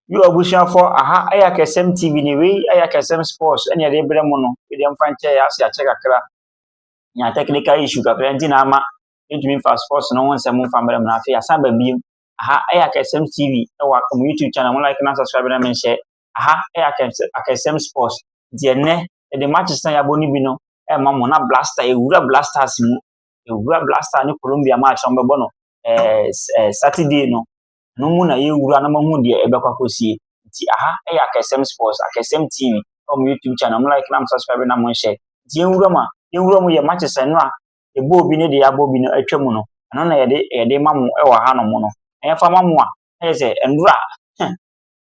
Yo abusuafo aha yɛ Akɛsɛm TV ne wei yɛ Akɛsɛm Sports ɛne yɛde brɛ mo no wei deɛ mfa nkyɛ yɛ ase akyɛ kakra nya technical issue kakra nti na ama yɛntumi mfa sports no ho nsɛm mfa mmerɛ mu na afei asan ba biem aha yɛ Akɛsɛm TV ɛwɔ mo YouTube channel mo like na subscribe na menhyɛ aha yɛ Akɛsɛm Sports nti ɛnɛ yɛde matches na yɛabɔ no bi no ɛma mo na blaster ɛwura blasters mu ɛwura blaster ne Colombia match no bɛbɔ no ɛɛ Saturday no no mu na yɛwura na mahu deɛ ɛbɛkɔ akɔsie nti aha ɛyɛ akɛsɛm sports akɛsɛm tv ɛwɔ mo youtube channel mo like na mo subscribe na mo nhyɛ nti yɛnwura mu a yɛnwura mu yɛ matches ɛno a ɛbɔ obi ne deɛ abɔ obi no atwa mu no ɛno na yɛde yɛde ma mo ɛwɔ ha no mo no ɛyɛfa ma mo a ɛyɛ sɛ ɛnora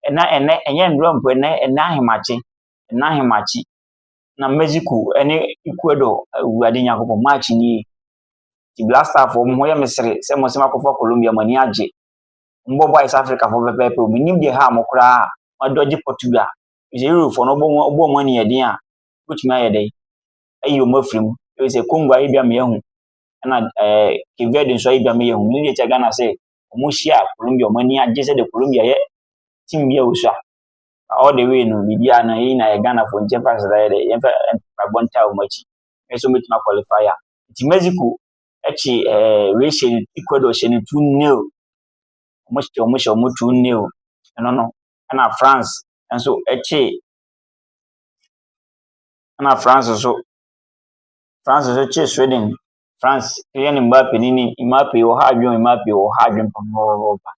ɛna ɛnɛ ɛnyɛ ɛnora mpo ɛnɛ ɛnɛ ahemakye ɛnɛ ahemakye na mexico ɛne ecuador awurade nyankopɔn match nie Ti Black Star fo, mo yɛ me sere sɛ mo sɛ makɔfa Colombia, mo ani agye. Mo bɔ bɔ East Africa fo pɛpɛɛpɛ o, me nim deɛ ha mo koraa a, mo adɔgye Portugal. Efisɛ Euro fo no, ɔbɔ mo, ɔbɔ mo ani yɛ den a, wobɛtumi ayɛ dɛn? Ayi wɔn afiri mu. Efisɛ Congo ayɛ bia meyɛ ho, ɛna ɛɛ Cape Verde nso ayɛ bia meyɛ ho. Menim deɛ ɛkyɛ Ghana sɛ, wɔn hyia Colombia, wɔn ani agye sɛ deɛ Colombia yɛ team bi a osua. All the way no, biribiara no, yɛn nyinaa yɛ Ghana fo, nti yɛmfa nsasaeɛ dɛ, yɛmfa mpaebɔ ntaa wɔn akyi. me nso mɛtumi akwalifai a. Nti Mexico kye ɛɛ wei hyɛ no Ecuador hyɛ no two nil wɔn hyɛ wɔn hyɛ wɔn two nil ɛno no ɛna France nso kye ɛna France nso France nso kye Sweden France yɛ ne Mbappe ne ne Mbappe wɔ ha adwene Mbappe wɔ ha adwene pɔpɔpɔpɔ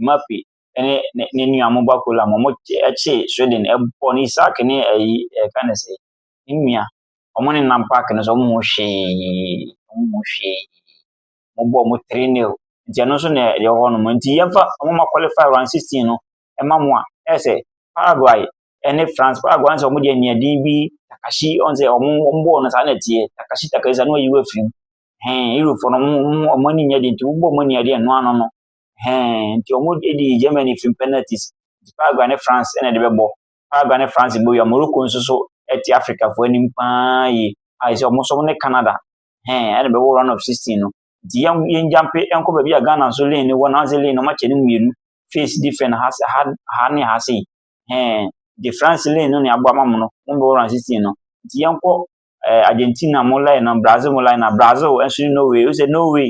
Mbappe ɛne ne ne nua mo ba kola mo mo kye Sweden ɛbɔ ne Isak ne ɛyi ɛka ne sɛ ne nua. Ɔmo nenam paake no so, ɔmo hu hwee, ɔmo hu hwee. Ɔmo bɔ ɔmo tiri nil, nti ɛno nso na ɛyɛ hɔ nom. Nti yɛmfa ɔmo ma kɔlifai round sixteen no ɛma mo a, ɛyɛ sɛ Paraguay ɛne France, Paraguay ɔn sɛ ɔmo deɛ nea din bi Takashi ɔn sɛ ɔmo ɔmo bɔɔl no saa na ɛteɛ, Takashi Takashi saa na ɔyi wo afiri mu. Hɛn Eurofoɔ no ɔmo ɔmo ɔmo ani nyɛ den nti wobɔ ɔmo ani a ɛdeɛ ɛno ano no. Hɛn nti ɔmo edi Germany firi mu penalties, nti Paraguay ne France ɛna ɛde bɛbɔ. Paraguay ne France bɔ wia. Morocco nso so ɛte Africafoɔ anim paa yie. Ayɛ sɛ wɔn nso wɔn ne Canada hɛn ɛna bɛwɔ round of sixteen no. Nti yɛn yɛn gyampe nkɔ baabi a Ghana nso lane ne wɔ nansi lane no wɔn akyɛ ne mmienu face different ha se ha ha ne ha se hɛn de France lane no ne aboa ma mo no wɔn bɛwɔ round of sixteen no. Nti yɛn kɔ ɛɛ Argentina mo line na Brazil mo line na Brazil nso ne Norway o sɛ Norway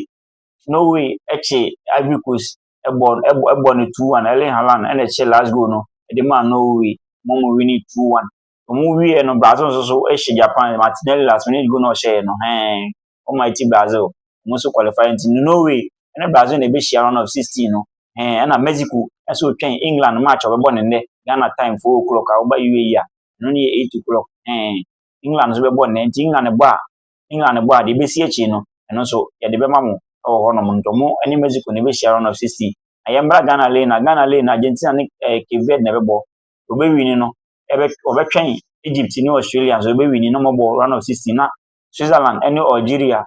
Norway ɛkye Ivory Coast bɔ bɔ bɔ no two one Erling Haaland na ɛhyɛ last goal no de maa Norway wɔn mu wini two one wɔn wieɛ no Brazil nso so hyɛ Japan Martinelli last minute goal na ɔhyɛɛ no hɛn wɔn ma ɛti Brazil wɔn nso qualify nti Norway ne Brazil na ɛbɛhyia round of sixteen no hɛn ɛna Mexico nso twɛn England match a ɔbɛbɔ ne nnɛ Ghana time four o'clock a ɔba UAE a ɛno ne yɛ eight o'clock hɛn England nso bɛbɔ nnɛ nti England bɔ a England bɔ a deɛ ɛbɛsi akyire no, ɛno nso yɛde bɛma mo wɔ hɔnom. Nti ɔmo ne Mexico na ɛbɛhyia round of 16. Na yɛmmra Ghana lane a, Ghana lane no Argentina ne eh, Cape Verde na ɛbɛbɔ. Wɔbɛwini no, wɔbɛtwɛn Egypt ne Australia nso wɔbɛwini na wɔbɔ round of 16 na Switzerland ne Algeria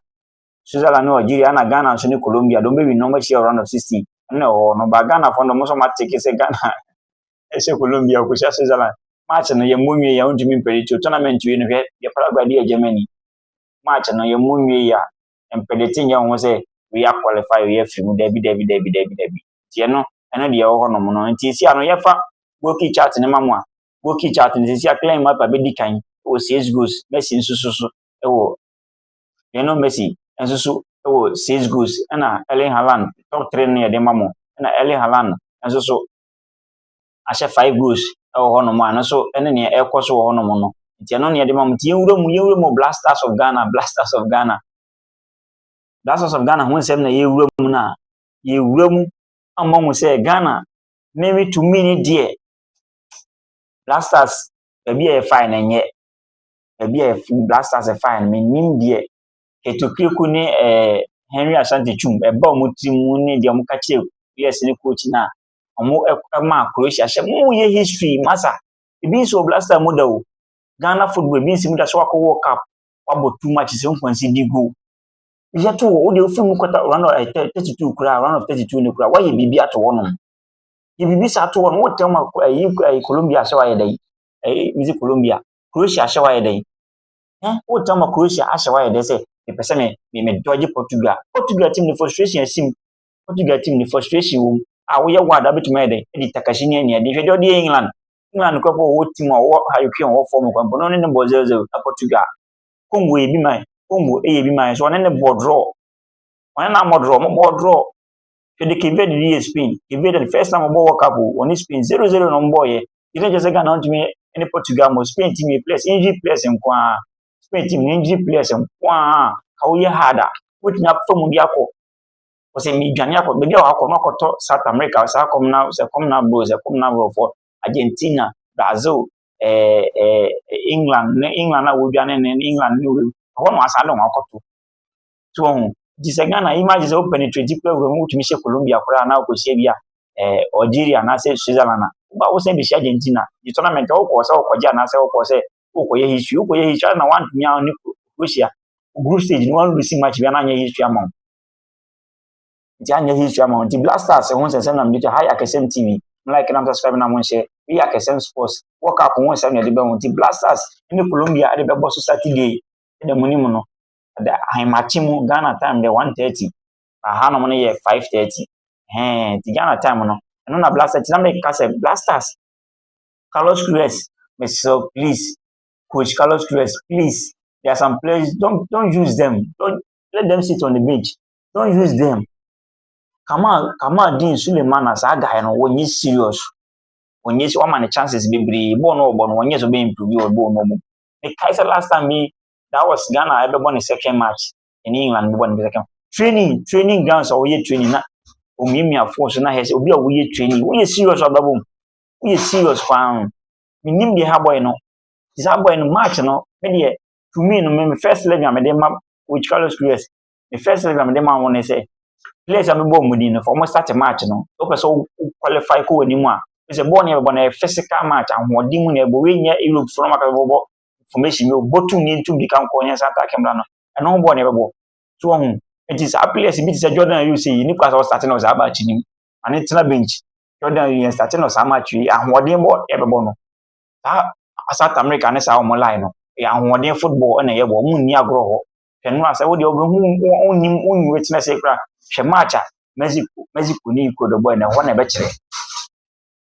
Switzerland ne Algeria ɛna Ghana nso ne Colombia dɔm bɛwini na wɔbɛhyia round of 16 ɛna ɛwɔ hɔ no ba Ghana fɔ no dɔm nso wɔateke sɛ Ghana ɛsɛ Colombia ɔkɔsi a Switzerland match no yɛmmɔ nwie yɛ ɔntumi mpɛdɛti tournament wie no hwɛ yɛ Paraguay de yɛ Germany match no yɛmmɔ nwie yɛ a mpɛdɛti nyɛ ho sɛ wei a qualify wei afiri mu dabi dabi dabi dabi dabi nti ɛno ɛno deɛ ɛwɔ hɔnom no nti ɛsi ano yɛfa goalkeeper chart no ma mu a goalkeeper chart no sisi a Kylian Mbappe bɛdi kan wɔ six goals Messi nso so so wɔ Lionel Messi nso so wɔ six goals ɛna Erling Haaland top three no yɛde ma mu ɛna Erling Haaland nso so ahyɛ five rows wɔ hɔnom a ɛno nso ne nea ɛrekɔ so wɔ hɔnom no nti ɛno nea ɛde ma mo nti yɛnwura mu yɛnwura mu blasters of ghana blasters of ghana blasters of ghana ho nsɛm na yɛwura mu no a yɛwura mu ama mu sɛ ghana meme tumi ne deɛ blasters baabi a yɛfae no nyɛ baabi a blasters ɛfae no menim deɛ ɛtokiriko ne ɛɛ eh, henry asante twum ɛba wɔn tirim ne deɛ wɔka kyerɛ players ne coach no a ɔmo ɛmaa Croatia hyɛ mo yɛ history masa ebi nsi wɔ blaster mu da o Ghana football ebi nsi mu da so wakɔ World Cup wabɔ two matches nkwansi di goal yɛ to wɔ wode ofiri mu kɔta round of eh, thirty two koraa round of thirty two ne koraa wayɛ biribi ato hɔ nom yɛ biribi saa ato hɔ nom wotɛm a ɛyi eh, ɛyi eh, Colombia ahyɛ wayɛ dɛ ɛyi misi Colombia Croatia ahyɛ wayɛ dɛ ɛn wotɛm a Croatia ahyɛ wayɛ dɛ sɛ mepɛ sɛ me me me dɔgye Portugal Portugal team ne frustration asim Portugal team no frustration wɔ mu a woyɛ ward a wobɛtumi ayɛ dɛn de Takashi ne aniade hwɛ deɛ ɔde yɛ England England kora bɔ wɔwɔ team a wɔwɔ Harry Kane wɔwɔ fam kwan mpo na ɔne ne bɔ 0-0 na Portugal Congo yɛ bi man Congo yɛ bi man so ɔne ne bɔ draw ɔne na mmɔ draw ɔmo bɔ draw hwɛ de Cape Verde de yɛ Spain Cape Verde no first time ɔbɔ World Cup o ɔne Spain 0-0 na ɔmo bɔ yɛ yɛn kyɛ sɛ Ghana ɔntumi ne Portugal mo Spain team yɛ players injury players nko ara Spain team injury players nko ara ka woyɛ hard a wotumi afa mu de akɔ Ɔsɛ medwane akɔ baabi a wakɔ no akɔtɔ South America saa kɔm na sɛ kɔm na bro sɛ kɔm na borɔfoɔ Argentina Brazil ɛɛ eh, ɛɛ eh, England ne England a wɔdwane ne England ne wei ɛhɔ na wasan de wɔn akɔto to wɔn nti sɛ Ghana yi ma gye sɛ wo penetrate kura wura mu wotumi hyɛ Colombia koraa na wokɔhyia bi a ɛɛ eh, Algeria anaasɛ Switzerland a woba wosan bɛhyia Argentina gye tournament a wokɔɔ sɛ wokɔgye anaasɛ wokɔɔ sɛ wokɔyɛ history wokɔyɛ history ana wantumi ano ne Croatia group stage no wanu si match bi ana anyɛ history ama wo nti anyɛ history ama wo nti Black Stars ho nsɛnsɛm na mede to ha yɛ akɛsɛm TV mo like nam subscribe na mo nhyɛ me yɛ akɛsɛm sports World Cup ho nsɛm na ɛde bɛho nti Black Stars ne Colombia ɛde bɛbɔ so Saturday ɛda mu nim no ɛda ahemakye mu Ghana time deɛ 1:30 aha nom no yɛ 5:30 hɛn nti Ghana time no ɛno na Black Stars ti na meka sɛ Black Stars Carlos Queiroz mesrɛ wo please coach Carlos Queiroz please there are some players don't don't use them don't let them sit on the bench don't use them Kamal Kamal Din Suleiman na saa guy no wɔnyɛ serious wɔnyɛ si wɔama ne chances bebree bɔɔl no ɔbɔ no wɔnyɛ sɛ ɔbɛ improve wɔ bɔɔl no ɔbɔ ne kae sɛ last time bi that was Ghana ɛbɛbɔ ne second match ɛne England bɛbɔ ne second training training grounds a wɔyɛ training na omiamia fo so na hɛ sɛ obi a woyɛ training woyɛ serious ɔbɛbom woyɛ serious paa o, menim deɛ ha bɔe no, te sɛ ha bɔe no March no me deɛ to me no me me first letter a mede ma which Carlos Cruyas me first letter a mede ma wɔn ne sɛ players a mebɔ wɔn din no fa wɔn start March no sɛ wopɛ sɛ wo qualify kɔ wɔn anim a sɛ bɔɔl no yɛbɛbɔ no yɛ physical match ahoɔden mu na ɛbɔ wei nyɛ Europe fo no ma ka sɛ bɔbɔ formation bi bɔ tum ne ntum de ka nkɔ yɛn sa attack mmra no ɛno ho bɔɔl no yɛbɛbɔ so wɔn ho nti saa players bi te sɛ Jordan Ayew sɛ yi ne kɔ asɛ ɔsate na ɔsɛ aba akyi nim ma ne tena bench Jordan yɛn sate no saa match yi ahoɔden bɔ yɛbɛbɔ no saa South America ne saa wɔn line no yɛ ahoɔden football na yɛbɔ wɔn nni agorɔ hɔ hwɛ no a sɛ wodeɛ wobɛhu wonnim wonni wetena sɛ kora hwɛ match a Mexico Mexico ne Ecuador bɔɛ no ɛhɔ na ɛbɛkyerɛ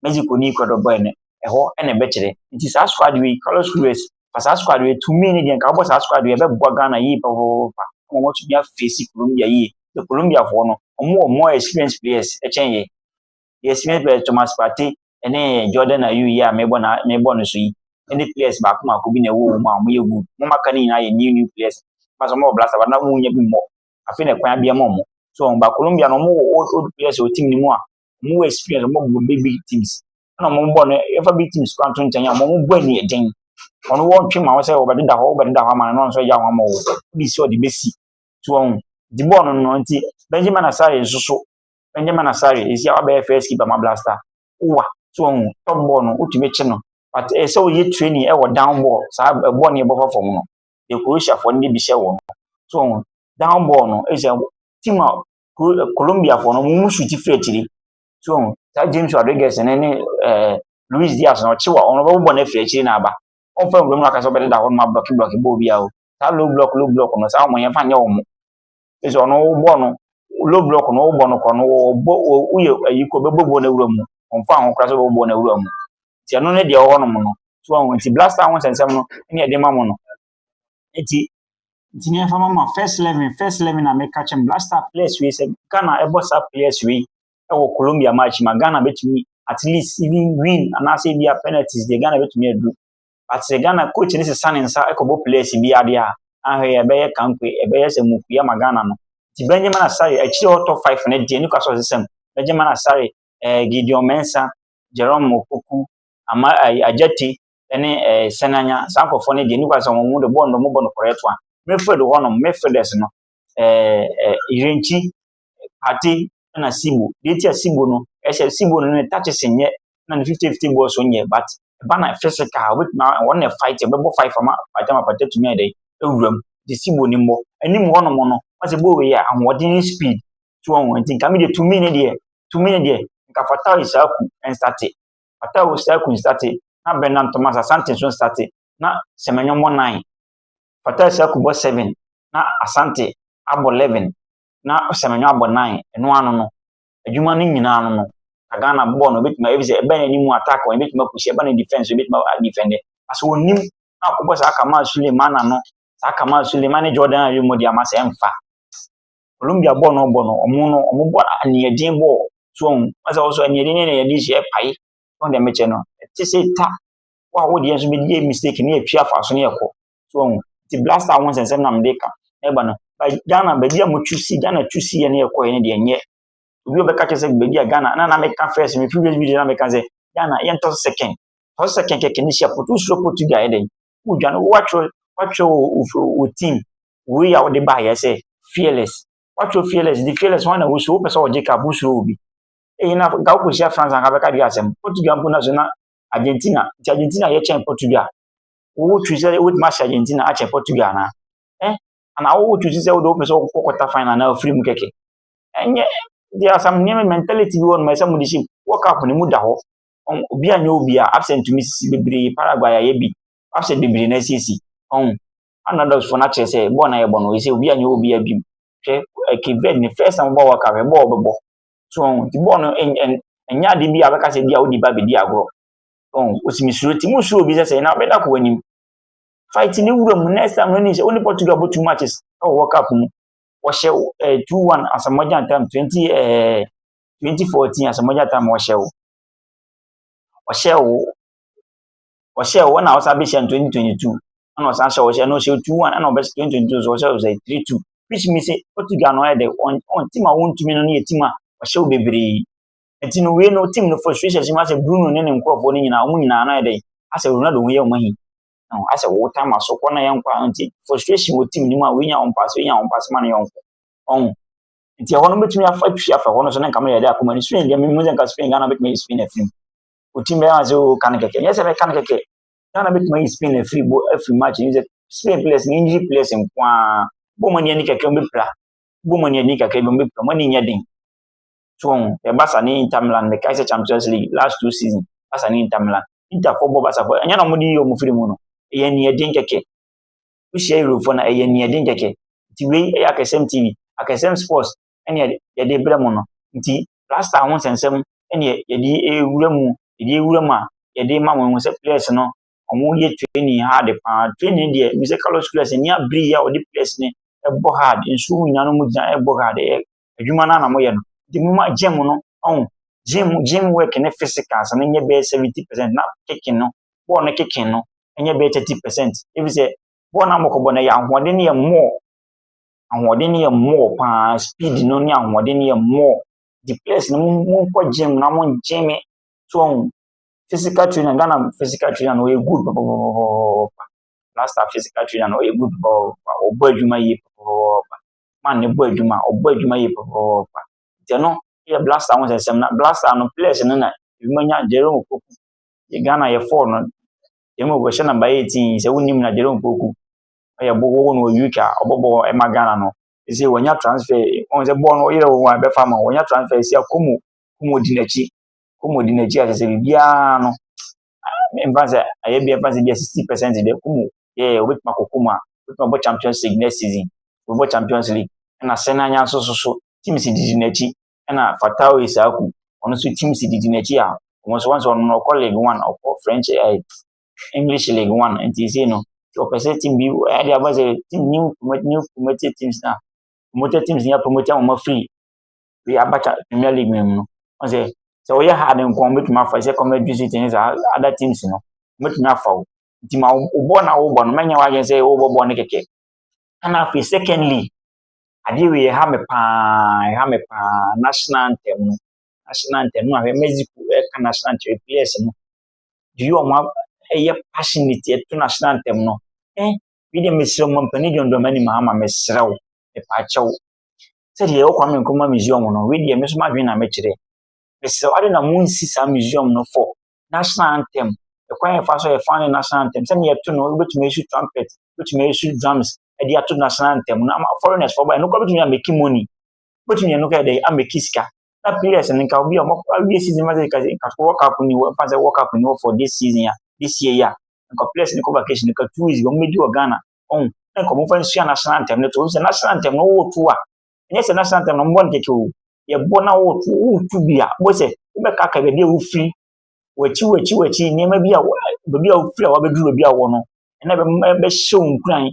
Mexico ne Ecuador bɔɛ no ɛhɔ na ɛbɛkyerɛ nti saa squad wei Carlos Queiroz fa saa squad wei tumi ne deɛ nka wobɔ saa squad wei ɛbɛboa Ghana yie pɔpɔpɔpɔ wɔn atumi afeesi Colombia yie sɛ Colombiafoɔ no wɔn wɔ more experienced players ɛkyɛn yɛ Deɛ Smith Bell, Thomas Partey ne Jordan Ayew yi a mebɔ na mebɔ no so yi ne players baako mako bi na ɛwɔ wɔn mu a wɔyɛ good. Wɔn aka no nyinaa yɛ new new players. Wɔn asɛ wɔn wɔ blaster but na wɔn nyɛ bi mmɔ. Afei na kwan abia ma wɔn. So wɔn ba Colombia no wɔn wɔ old old players wɔ team no mu a wɔn wɔ experience wɔn bɔ big big teams. Ɛna wɔn bɔ no yɛfa big teams kwan to nkyɛn a wɔn bɔ ani ɛden. Wɔn wɔ ntwe ma wɔn sɛ wɔbɛdeda hɔ wɔbɛdeda hɔ ama no na wɔn nso agya wɔn ama wɔn. Bi sɛ ɔde besi. So wɔn di bɔɔl no no nti Benjamin Asare nso so Benjamin Asare, ɛsi a wabɛyɛ first keeper ma Blaster. Wa, so wɔn top ball no, wotumi kye no. But ɛyɛ sɛ wɔyɛ training ɛwɔ down ball, saa ball no yɛbɔ fa fam no. Yɛ Croatia fɔ no de bi hyɛ wɔn. So wɔn down ball no, ɛyɛ sɛ team a Colombia fɔ no, wɔn mu shoot firi akyiri. So wɔn saa James Rodriguez ne ne ɛɛ Luis Diaz na ɔkye wa, wɔn bɛbɔ bɔ no afiri akyiri na aba. Wɔn fɛn wɔn mu akasa wɔbɛdeda hɔ no ma blɔki blɔki bɔ obiara o. Saa low block low block no, saa wɔn yɛn fa nyɛ wɔn. ɛsɛ ɔno wobɔ no low block no wobɔ no kɔ no wɔbɔ woyɛ ayi kɔ bɛbɔ bɔ no awura mu ɔmfa ho koraa sɛ wɔbɔ bɔ no awura mu nti ɛno ne deɛ ɔwɔ nom no so ɔho nti blaster ho nsɛnsɛm no ne ɛde ma mo no nti nti ne ɛfa ma ma first eleven first eleven na meka kyɛm blaster players wei sɛ Ghana ɛbɔ saa players wei ɛwɔ Colombia match ma Ghana bɛtumi at least even win anaasɛ ebi a penalties deɛ Ghana bɛtumi adu Ɔtee Ghana coach no sesa ne nsa kɔbɔ players bi adeɛ a, na hwɛ ɛbɛyɛ kankwe, ɛbɛyɛ sɛ mukui ama Ghana no. Nti Benjamin Asare, akyire hɔ top five no deɛ Newcastle sesa mu. Benjamin Asare, eh, Gideon Mensah, Jerome Opoku, Ama, eh, Ajati, ne eh, Senanya, saa nkurɔfoɔ no deɛ Newcastle wɔn mu de bɔɔl no wɔbɔ no correct one. Midfield hɔnom, midfielders no, eh, eh, Irenkyi, Kati na Sibo. Deɛ nti a Sibo no, ɛhyɛ Sibo no ne touches nyɛ na ne fifty fifty bɔɔl so nyɛ but ɛba na physical wobɛtumi a wɔn na fight ɛbɛbɔ fight fama pagya ma pagya tumi ayɛ dɛ ewura mu de Sibo ne mmɔ anim hɔ nom no wɔsɛ bɔɔl yi a ahoɔden ne speed to wɔn wɔn nti nka mi deɛ tumi ne deɛ tumi ne deɛ nka Fatai Issahaku nstate Fatai Issahaku nstate na Bernard Thomas Asante nso nstate na Semenyo mmɔ nine Fatai Issahaku bɔ seven na Asante abɔ eleven. na sɛ menwa abɔ nnan, ɛno ara no no, adwuma no nyinaa no no, na Ghana bɔɔl no obetumi ayɛ, efisɛ ɛbɛn n'anim attack wɔn, ebetumi akusi, ɛbɛn ne defense obetumi adefɛnde. Asɛ onim na akɔbɔ saa Kamal Suleiman ano, saa Kamal Suleiman ne Jordan Ayew mu deɛ ama sɛ ɛmfa. Colombia bɔɔl no ɔbɔ no, wɔn no, wɔn bɔ aniɛden bɔɔl, so wɔn, wɔn sɛ wɔsɔ aniɛden ne aniɛden hyɛ ɛpae, wɔn deɛ mekyɛ no, ɛte sɛ ta, wɔn a wɔdeɛ nso bɛdi mistake ne yɛtwi afa so ne yɛkɔ. So wɔn ti blaster ho nsɛnsɛm na mede ka ɛba no. By Ghana baabi a mo tu si Ghana tu si yɛ ne yɛ kɔɛ ne deɛ nyɛ. Obi ɔbɛka kyerɛ sɛ baabi a Ghana na na meka first me previous video na meka sɛ Ghana yɛ ntɔ second. Tɔ second kɛkɛ ne hyia foto soro foto bi ayɛ dɛn. Wodwa no wɔatwerɛ wɔatwerɛ wɔ wɔ team wei a wɔde baayɛ sɛ fearless. Wɔatwerɛ fearless de fearless wɔn na wɔsuro wopɛ sɛ wɔgye kaa wosuro obi. Eyi na nka wokɔhyia France anka bɛka bi asɛm. Portugal mpo na so na Argentina nti Argentina yɛkyɛn Portugal. wo choose sɛ wobɛtumi ahyɛ Argentina akyɛ Portugal anaa eh anaa wo choose sɛ wode wopɛ sɛ wokɔ quarter final anaa wofiri mu kɛkɛ ɛnyɛ there are some nneɛma mentality bi wɔ nom ɛsɛ mo de hyɛ mu World Cup no mu da hɔ obi anyɛ obi a absent tumi sisi bebree Paraguay ayɛ bi absent bebree na asiesie ɔn underdogs fo no akyerɛ sɛ bɔɔl na yɛbɔ no ɛsɛ obi anyɛ obi a bi mu hwɛ Cape Verde ne first time bɔ World Cup ɛbɔɔ bɛbɔ so ɔn ti bɔɔl no ɛnyɛ ade bi a bɛka sɛ bi a wodi ba bɛdi agorɔ Ɔn, osi me suro ti, mo suro obi sɛ sɛ na ɔbɛda ko anim. Fight ne wura mu, next time no ni sɛ, wone Portugal bɔ two matches ɛwɔ World Cup mu. Wɔhyɛ wo, eh, two one Asamoah time, twenty, eh, twenty fourteen Asamoah time wɔhyɛ wo. Wɔhyɛ wo, wɔhyɛ wo, ɛna ɔsan bɛhyɛ no twenty twenty two, ɛna ɔsan hyɛ wɔhyɛ, ɛna ɔhyɛ two one, ɛna ɔbɛhyɛ twenty twenty two so wɔhyɛ wo sɛ three two. Which means sɛ Portugal no ɛyɛ dɛ, wɔn, wɔn team a wɔntumi no no yɛ team a wɔhyɛ wo bebree. Nti no wei no team no frustrations mu asɛ Bruno ne ne nkurɔfoɔ no nyinaa wɔn nyinaa no ayɛ dɛ asɛ Ronaldo ho yɛ wɔn ahi. No asɛ wo time aso kɔ na yɛ nkɔ a nti frustration wɔ team no mu a wei nya wɔn paase wei nya wɔn paase ma no yɔnko. Ɔho. Nti ɛhɔ no bɛtumi afa atwi afa hɔ no so ne nka meyɛ dɛ akoma ne Spain deɛ memu sɛ nka Spain Ghana bɛtumi ayɛ Spain afiri mu. O team bɛyɛ asɛ o kan kɛkɛ nyɛ sɛ bɛka no kɛkɛ Ghana bɛtumi ayɛ Spain afiri bo afiri match ne sɛ Spain players ne injury players nko ara bɔ mo ani ani kakra wɔn bɛpira bɔ mo ani ani kakra bi wɔn bɛpira mo ani nyɛ den. Tɔn ɛ Barca ne Inter Milan mekae sɛ Champions League last two season Barca ne Inter Milan Inter fo bɔ Barca fo ɛnyɛ na wɔde yi wɔn firi mu no ɛyɛ nea ɛden kɛkɛ wohyia Eurofo na ɛyɛ nea ɛden kɛkɛ nti wei ɛyɛ Akɛsɛm TV Akɛsɛm Sports ɛne yɛde brɛ mo no nti plaster ho nsɛnsɛm ɛne yɛde ewura mu yɛde ewura mu a yɛde ma wɔn sɛ players no wɔn yɛ training hard paa training deɛ Mr Carlos Queiroz ɛni abiri yɛ a wɔde players ne ɛbɔ hard nsuo nyinaa no mu gyina ɛbɔ hard ɛyɛ adwuma no ara na moyɛ no, nti momma gym no, ɔho, gym, gym work ne physicals no nyɛ bɛyɛ 70 percent na kicking no, bɔɔl no kicking no nyɛ bɛyɛ 30 percent. Ɛfiri sɛ, bɔɔl no a mokɔbɔ no ɛyɛ ahoɔden no yɛ more, ahoɔden no yɛ more paa, speed no ne ahoɔden no yɛ more. Nti players no monkɔ gym na mo gym, so ɔho, physical trainer, Ghana physical trainer no ɔyɛ good pɔpɔpɔpɔpɔpɔpɔ, last time physical trainer no ɔyɛ good pɔpɔpɔpɔpɔ, ɔbɔ adwuma yie pɔpɔpɔpɔpɔpɔ. ma no bɔ adwuma, ɔbɔ adwuma yie pɛpɛpɛpɛ. Nti ɛno yɛ blaster ho nsɛm na blaster no players no na ebinom anya Jerome Opoku. Yɛ Ghana yɛ four no, Jerome Opoku hyɛ number eighteen sɛ wonim na Jerome Opoku ɔyɛ bo wɔwɔ no wɔ UK a ɔbɔ bɔɔl ɛma Ghana no. Ɛsɛ wɔnya transfer, wɔn sɛ bɔɔl no ɔyerɛ wɔn a ɛbɛfa ma wɔnya transfer ɛsɛ Akomo, Akomo di n'akyi, Akomo di n'akyi a kyerɛ sɛ biribiara no mfa sɛ ɛyɛ bi mfa sɛ bi sixty percent de kum yɛ obetumi akɔ kum a obetumi abɔ champions league next season obɔ champions league ɛna sɛnɛ anya nso so so team si didi n'akyi ɛna fatawo isaaku ɔno nso team si didi n'akyi a wɔn nso wɔn nso ɔno ɔkɔ league one ɔkɔ french ɛɛ eh, english league one nti sɛ no ɔpɛ sɛ team bi ɛde aba sɛ team new promote new promoted teams na promoted teams na promote wɔn afiri Afei Abacha Premier League no mu no, ɔhu sɛ sɛ wɔyɛ hard nko a wɔbɛtumi afa sɛ Commercial City ne saa other teams no, wɔbɛtumi afa wo. Nti ma wo bɔɔl no a wobɔ no, mɛnyɛ w'adwene sɛ wobɔ bɔɔl no kɛkɛ. Ɛna afei secondly, adeɛ wei ɛha me paa, ɛha me paa, national anthem no. National anthem no ahwɛ Mexico ɛka national anthem players no. Do you wɔn ɛyɛ passionate ɛto national anthem no. Eh, bi deɛ mesrɛ mo mpanin dwɔndɔn m'anim ha ma mesrɛ wo, mepaakyɛ wo. sɛdeɛ yɛwɔ Kwame Nkrumah Museum no, wei deɛ me nso m'adwene na mekyerɛ. Mesrɛ wo, ade na monsi saa museum no for national anthem. Ɛkwan a yɛfa so yɛ fan ne national anthem. Sɛnea yɛto no, wobɛtumi asu trumpet, wobɛtumi asu drums de ato national anthem no ama foreigners fo ba. Ɛno kora bɛtumi ameki money. Wobɛtumi ɛno kora dɛ ameki sika. Na players no nka obi a wɔn awie season ma sɛ nka nka World Cup ni wɔ nfa sɛ World Cup ni wɔ for this season a this year yi a nka players no kɔ vacation nka two weeks wɔn bɛdi wɔ Ghana Ɔn, na nka wɔmfa nsua n'asene antɛm no to. Wohu sɛ n'asene antɛm no woretu a, ɛnyɛ sɛ n'asene antɛm no mmɔ no kɛkɛ o. Yɛbɔ na woretu, woretu bi a, wobɛhu sɛ wobɛkaakae baabi a wofiri, w'akyi w'akyi w'akyi, nneɛma bi a wo baabi a wofiri a wabɛduru baabi a wɔwɔ no, ɛna ɛbɛma ɛbɛhyɛ wo nkuran.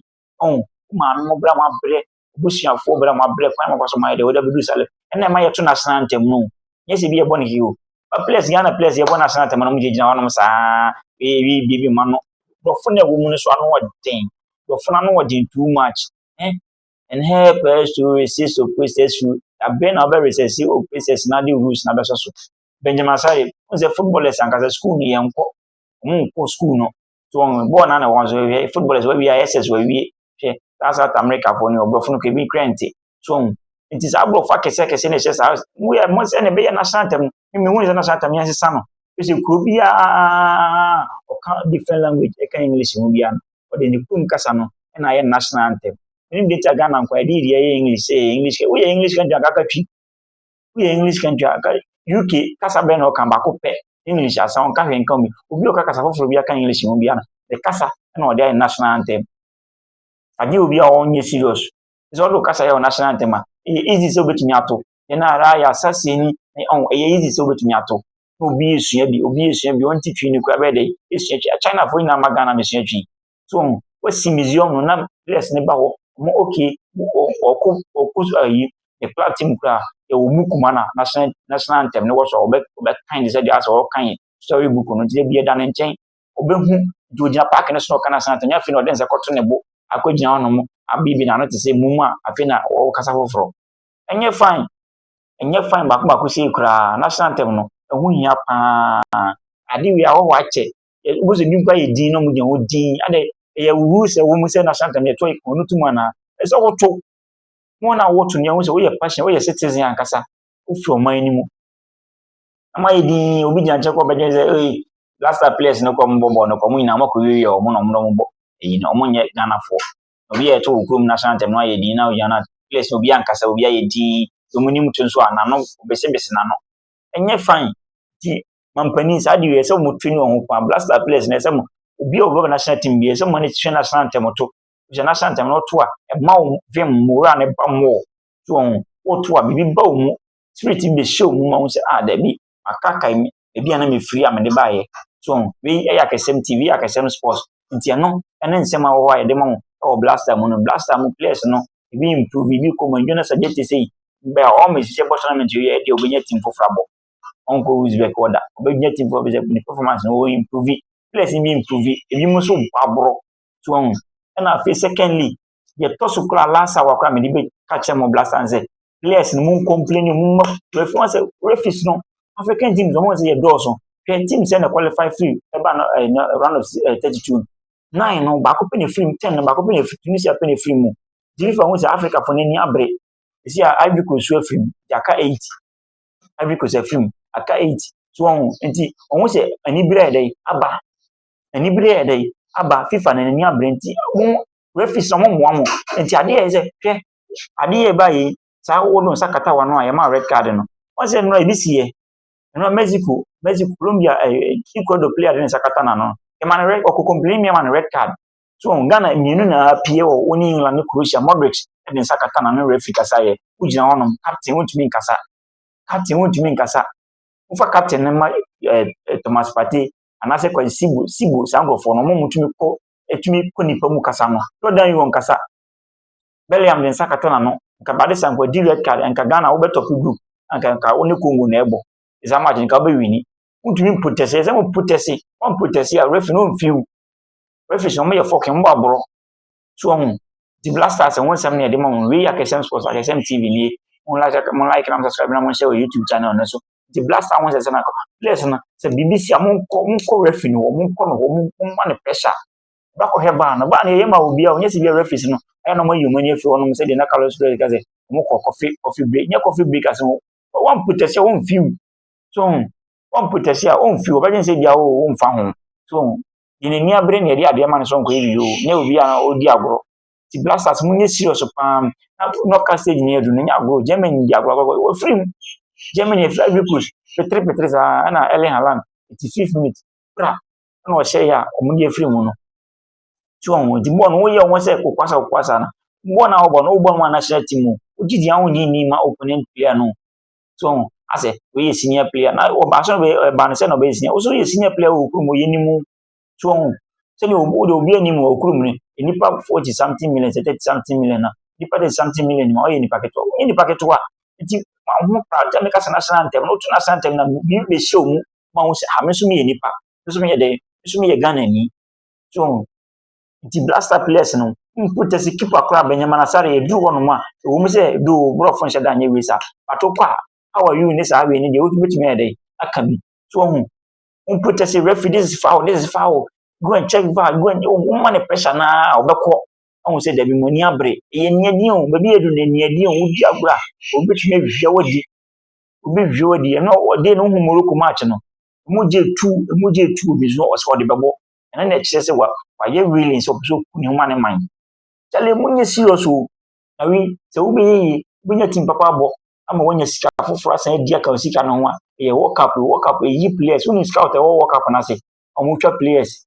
Ɔn, wo maame mo berɛ a moabrɛ abusuafoɔ berɛ a moabrɛ kwan ma kwaso mayɛ dɛ wode abɛduru sale ɛna ɛma yɛto no asena ntam no nyɛ sɛ bi yɛbɔ no hio ba players Ghana players yɛbɔ no asena ntam no mogyinagyina hɔnom saa ɛyɛ biribi ma no dɔfo no ɛwɔ mu no so ano ɔden dɔfo no ano ɔden too much eh and help us to resist oppressors rule abɛn na ɔbɛ resist oppressors na de rules na bɛsɔ so Benjamin Asare n sɛ footballers ankasa school no yɛnkɔ ɔmo nkɔ school no so wɔn bɔɔl na na wɔn so hwɛ footballers wɔawie ayɛ sɛ so wɔawie hwɛ saa south americafoɔ no ɔborɔfo no kebi kura nte so wɔn nti saa aborɔfo akɛse akɛse na ɛhyɛ saa mo yɛ mo sɛ na ɛbɛyɛ national team mmemme wɔn sɛ national team yɛn sesa no ɛsɛ kuro biara ɔka different language ɛka english mu biara no ɔde ne kum kasa no ɛna ayɛ national anthem ɛnim de ti a ghana nkwa ɛde yɛ english sɛ english woyɛ english kan gyina kaka twi woyɛ english country a uk kasa bɛn na ɔka baako pɛ english asa ɔnka hwɛ nka omi obi ɔka kasa foforɔ bi aka english ho biara ne kasa na ɔde ayɛ national anthem agye obi a ɔnyɛ serious sɛ ɔde kasa yɛ national anthem a ɛyɛ easy sɛ obetumi ato yɛn ara yɛ asaseɛ ni ɛyɛ easy sɛ obetumi ato na obi esua bi obi esua bi ɔnti twi ne kura bɛyɛ dɛ esua twi chinafoɔ nyinaa ma ghana mesua twi so wɔn wɔsi museum no na players no ba hɔ wɔn okay ɔko ɔko ayi ne club team koraa yɛwɔ mu kuma na national national anthem no wɔ so a ɔbɛ ɔbɛkan ne sɛ deɛ asɛ ɔkan story book no nti ebi ɛda ne nkyɛn ɔbɛhu nti ogyina paaki no so na ɔka national anthem nyɛ afei na ɔde nsa kɔto ne bo akɔgyina hɔ nom abibi n'ano te sɛ mum a afei na ɔkasa foforɔ ɛnyɛ fine ɛnyɛ fine baako baako sei koraa national anthem no ɛho hia paa ade wei ahɔho akyɛ wobɛhu sɛ bi mpo ayɛ din na wɔgyina hɔ din adɛ ɛyɛ wuhuru sɛ wɔn sɛ national anthem yɛtɔ wɔn no tum anaa ɛsɛ woto wɔn a wɔto no yɛhu sɛ woyɛ passion woyɛ citizen ankasa wofi ɔman no mu ama ayɛ din obi gyina nkyɛn kɔ bɛgye sɛ ee last time players no kɔ wɔn bɔ bɔɔl no kɔ wɔn nyinaa wɔn akɔ wiwi wɔn na wɔn na wɔn bɔ eyi na wɔn nyɛ ghanafoɔ obi yɛ ɛto wɔ kurom national anthem no ayɛ din na ogyina na players no obi ankasa obi ayɛ din wɔn anim to nso a n'ano obesebese n'ano ɛnyɛ fine ti mampanin saa de wei ɛsɛ wɔn twene wɔn ho paa blaster players na ɛsɛ wɔn obi a ɔbɛba national team bi ɛsɛ wɔn ani twɛ national team to ɛsɛ national team na ɔto a ɛma wɔn vim mora na ɛba wɔn to wɔn ɔto a biribi ba wɔn mu spirit bi bɛhyɛ wɔn mu ma wɔn sɛ ah dabi akaka mi ebi a na mi firi a mi de baayɛ to wɔn wei ɛyɛ akɛsɛm tv ɛyɛ akɛsɛm sports nti ɛno ɛne nsɛm a wɔwɔ a yɛde ma wɔn ɛwɔ blaster mu no blaster mu players no ebi improve ebi kɔ mu ɛdwuma sɛ gye te sɛ yi bɛɛ ɔmo esisɛ bɔ tournament yɛ ɛde ɔbɛnya team foforɔ abɔ. ɔnkɔ Uzbek hɔ da. Ɔbɛgyina teamfoɔ hɔ bɛsɛ ne performance no ɔimprove. Players no bi improve, ebinom nso bɔ aborɔ. So wahu? Ɛna afei secondly, yɛtɔ so koraa last hour koraa mede bɛka kyerɛ mo Black Stars sɛ players no mu complain mu ma refi wɔn sɛ refis no African teams wɔn sɛ yɛdɔɔso. Hwɛ team sɛ na qualify free ɛba no ɛɛ na round of ɛɛ eh, thirty two nine no baako pɛ na efiri mu ten no baako pɛ na efiri Tunisia pɛ na efiri mu. Jirifa ho sɛ Africa fo n'ani abere. Esi a Ivory Coast so afiri mu, yɛaka eight. Ivory Coast afiri mu, aka eight. So wɔn nti wɔn sɛ anibere yɛ dɛ aba, anibere yɛ dɛ aba FIFA na n'ani abere nti wɔn referees na wɔn mmoa wɔn. Nti adeɛ yɛ sɛ hwɛ adeɛ yɛ ba yɛ saa wɔn nsa kata wɔn ano a yɛ maa red card no. Wɔn sɛ nnora ebi si yɛ, nnora Mexico, Mexico, Colombia, ɛɛ eh, Ecuador player de ne nsa kata n'ano. Yɛ ma no red, ɔkɔ complain mi yɛ ma no red card. so wɔn ghana mmienu na apue wɔ wɔn england ne croatia modric de nsa kata na ne werɛ fi kasa yɛ wogyina hɔnom captain wontumi nkasa captain wontumi nkasa wofa captain no ma ɛɛ eh, eh, thomas pate anaasɛ kwasi sibo sibo saa nkurɔfoɔ no wɔn mutumi kɔ etumi kɔ nipa mu kasa no jordan yi wɔn kasa belliam de nsa kata na no nka bade sanko di red card nka ghana wobɛtɔpe group nka nka wo ne congo na ɛbɔ ɛsa match nka wobɛwini wontumi mpotɛse ɛsɛ mo potɛse wɔn potɛse a referee no mfiw Referees no, wɔyɛ fɔkin, wɔbɔ aborɔ. So wɔn nti Black Stars ho nsɛm na yɛde ma wɔn. Wei yɛ Akɛsɛm Sports, Akɛsɛm TV nie. Mo like, mo like na mo subscribe na mo nhyɛ wɔ YouTube channel no so. Nti Black Stars ho nsɛm sɛ na players no sɛ biribi si a monkɔ monkɔ referee no hɔ, monkɔ no hɔ, momma no pressure. Bɛkɔhwɛ baa no, baa no yɛyɛ ma obiara, ɔnyɛ sɛ bi referees no ɛyɛ na wɔayi wɔn ani afiri hɔnom sɛdeɛ na Carlos Flores ka sɛ wɔkɔ coffee coffee break, nyɛ coffee break ase wɔn wɔn protest a wɔn fiw so wɔn protest a wɔn fiw wɔbɛgye sɛ bia wɔn mfa ho so deɛ n'ani abere na yɛde adeɛ ma no sɛ ɔnkɔyɛ biribi o na ɛwɔ bi a ɔredi agorɔ ti blasters mu nyɛ serious paa na knockout stage ni adu na nyɛ agorɔ germany di agorɔ agorɔ wɔfiri mu germany efiri ivory coast petere petere saa ɛna ɛlɛ halan ti fifth minute pra ɛna ɔhyɛ yɛ a wɔn de afiri mu no ti wɔn wɔn ti bɔɔl no wɔyɛ wɔn sɛ kokwasa kokwasa no bɔɔl na wɔbɔ no wɔbɔ no wɔn national team o wogye di ahonyini ma opponent player no so ho asɛ wei yɛ senior player na ɔbaa so no ɛbaa no sɛ na ɔbɛyɛ senior wo so yɛ senior player wɔ okurum yɛ ne mu so ho sɛdeɛ wode obi anim wɔ okurum no nnipa forty something million sɛ thirty something million na nnipa thirty something million ma ɔyɛ nnipa ketewa ɔyɛ nnipa ketewa nti ma ho kora gya meka sɛ n'asena ntɛm na wotu n'asena ntɛm na biribi bɛhyɛ mu ma ho sɛ ha me nso meyɛ nnipa me nso meyɛ dɛn me nso meyɛ Ghana ni so ho Nti blaster players no mpo tɛsi keeper koraa Benjamin Asare ɛduru hɔ nom a ɛwɔ mu sɛ doo borɔfo nhyɛ da nyɛ wei saa but wokɔ a how are you ne saa wei ne deɛ wotumi bɛtumi ayɛ dɛn aka bi so wahu wɔn protest referee this is foul this is foul go and check var go and wɔn ma ne pressure naa ɔbɛkɔ ɔhu sɛ dabi mu ani abere ɛyɛ niadi o baabi yɛ do na niadi o wodi agorɔ a obetumi awia wadi obi wia wadi ɛno ɔde no hu morocco match no emu gye tu emu gye tu obi so ɔsɛ ɔde bɛbɔ ɛno na ɛkyerɛ sɛ wayɛ willing sɛ ɔpɛ sɛ ɔku ne ho ma ne man kyale monyɛ serious o na wi sɛ wobɛyɛ yie wobɛnya tim papa abɔ ama woanya sika foforɔ asan adi aka sika no ho a ɛyɛ world cup world cup ɛyi players wonim scout ɛwɔ world cup no ase ɔmotwa players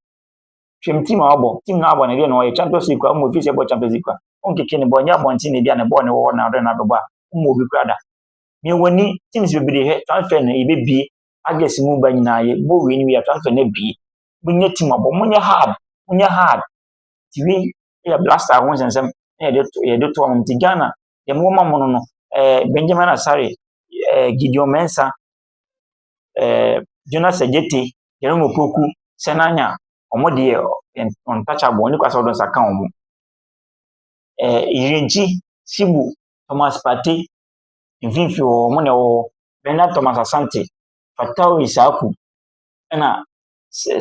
hwɛm tim a wabɔ tim no abɔ no deɛ na ɔyɛ champions league a mmɔ ɛfiri sɛ ɛbɔ champions league a ɔnkeke ne bɔ ɛnyɛ abɔnten na ɛdi a ne bɔɔ ne wɔ hɔ na ɔdɛ no abɛbɔ a mmɔ obi kora da mewɔ ni teams bebree hɛ transfer no yɛbɛbie August mu ba nyinaa yɛ bɔ wei no wei a transfer no abie monyɛ team abɔ monyɛ hard monyɛ hard nti wei yɛ blaster ho nsɛnsɛm na yɛde to yɛde to ɔmo nti Ghana deɛ mo ma mo no no ɛɛ eh, Benjamin Asare ɛɛ eh, Gideon Mensah ɛɛ eh, Jonas Egyete Jerome Opoku Senanya ɔmo deɛ untouchable ɔne kwasa ɔdɔ nsa ka ɔmo ɛɛ Yirenkyi Sibu Thomas Partey mfimfini hɔ ɔmo na ɛwɔ hɔ. Bernard Thomas Asante, Fatauri Saku, ɛna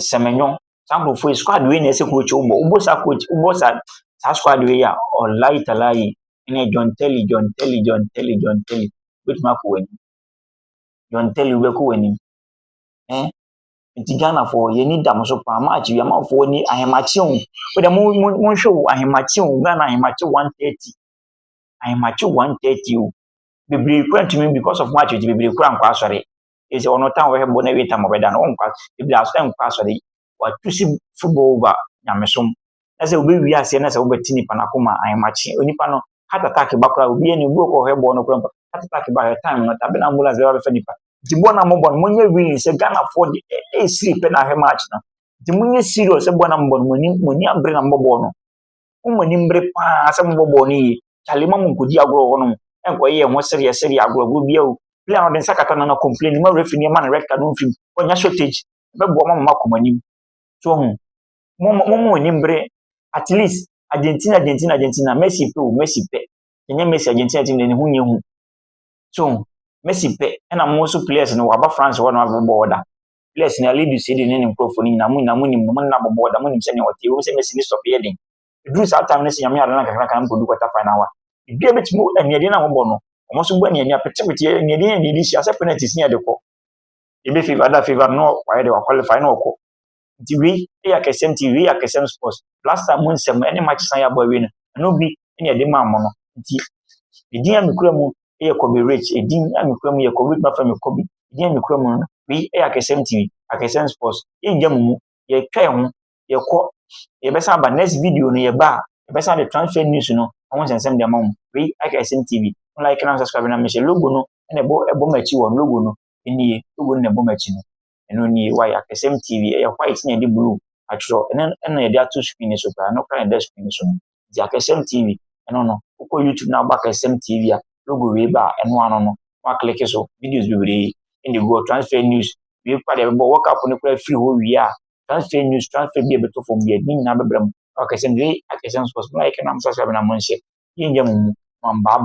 Semenyo. Saa nkurɔfoɔ yi, squad wei na ɛsɛ coach wobɔ. Wobɔ saa coach, wobɔ saa saa squad wei a, ɔlae talae, ɛnɛ John Terry, John Terry, John Terry, John Terry, wobɛtumi akɔ w'anim. John Terry, wobɛkɔ w'anim. Eh? nti ghanafoɔ yɛni da mo so paa maakye wi amanfoɔ ni ahemakye o wode monhwɛ o ahemakye o ghana ahemakye 130 ahemakye 130 o bebree kura ntumi because of match nti bebree kura nkɔ asɔre ɛsɛ ɔno tan ɔbɛhwɛ bɔ na ɛwie tam ɔbɛda no ɔnkɔ bebree asɔ nkɔ asɔre watu si football over nyamesom na sɛ wobɛwie aseɛ na sɛ wobɛte nipa no akoma ahemakye onipa no heart attack ba koraa obi ani obi ɔkɔ ɔhwɛ bɔ no koraa heart attack ba hwɛ time no tabe na ambulance bɛba bɛfa nipa nti bɔ na mobɔ no monyɛ willing sɛ ghanafoɔ de ɛsiri pɛ na ahwɛ match no nti monyɛ serious sɛ bɔ na mobɔ no moni abere na mobɔ bɔɔl no Mo mo ani mbere paa sɛ mobɔ bɔɔl no yie. Charlie mma monkɔdi agorɔ wɔ hɔnom. Ɛnkɔyɛ yɛn ho sereɛ sereɛ agorɔ agorɔ biara o. Player no ɔde nsa kata n'ano complain mma referee no ɛmma no red card no mfiri mu. Ɔnya shortage. Ɛbɛboa mo ama moakɔ mo anim. So wahu? Mo mo mo ani mbere. At least Argentina Argentina Argentina Messi pɛ o Messi pɛ. Sɛ ɛnyɛ Messi Argentina team deɛ ne ho nyɛ hu. So wahu? Messi pɛ. Ɛna mo nso players no wɔaba France hɔ na wɔabɛbɔ bɔɔl da. Bless ne Alidus de ne ne nkurɔfoɔ no nyinaa mo nyinaa mo nim no mo nna bɔbɔ da mo nim sɛnea ɔte wɔn sɛ mɛsi ne stop yɛ den ɛduru saa time no sɛ nyame adana kakra kan kɔdu kɔta final wa ebi a bɛtumi aniɛdeɛ no a wɔbɔ no wɔn so bɔ aniɛdeɛ apetepete aniɛdeɛ yɛ aniɛdeɛ hyia sɛ penalties ne ɛde kɔ ebe favor ada favor no wayɛ de wakwalify na ɔkɔ nti wei yɛ akɛsɛm nti wei yɛ akɛsɛm sports last time mo nsɛm ɛne match san yɛ abɔ awie no ɛno bi ɛne ɛde maa mo no nti edin a mekura mu yɛ kɔbe rich, edin a mekura mu yɛ kɔbe rich, mafa me kɔbe, edin a mekura mu no, wei yɛ akɛsɛm TV, akɛsɛm sports, yɛngya mu mu, yɛtwa yɛn ho, yɛkɔ, yɛbɛsan aba next video no yɛba a, yɛbɛsan de transfer news no ho nsɛnsɛm de ama mo, wei akɛsɛm TV, mo like na mo subscribe na mehyɛ logo no na ɛbɔ ɛbɔ m'akyi wɔ logo no, ɛnie, logo no na ɛbɔ m'akyi no. ɛno nie wayɛ akɛseɛ mu TV ɛyɛ white na yɛde blue atwerɛ ɛno ɛna yɛde ato screen no so koraa ɛno koraa na ɛda screen no so no nti akɛseɛ mu TV ɛno no wokɔ YouTube na wobɔ akɛseɛ mu TV a logo wei ba a ɛno ano no wakleke so videos bebree ɛna ɛgu hɔ transfer news wei koraa deɛ ɛbɛbɔ work up no koraa firi hɔ wie a transfer news transfer bi a ɛbɛtɔ fam bi a ne nyinaa bɛbrɛ mu akɛseɛ mu wei akɛseɛ mu sports mo like na mo subscribe na mo nhyɛ yɛnyɛ mo mu mo mbaaba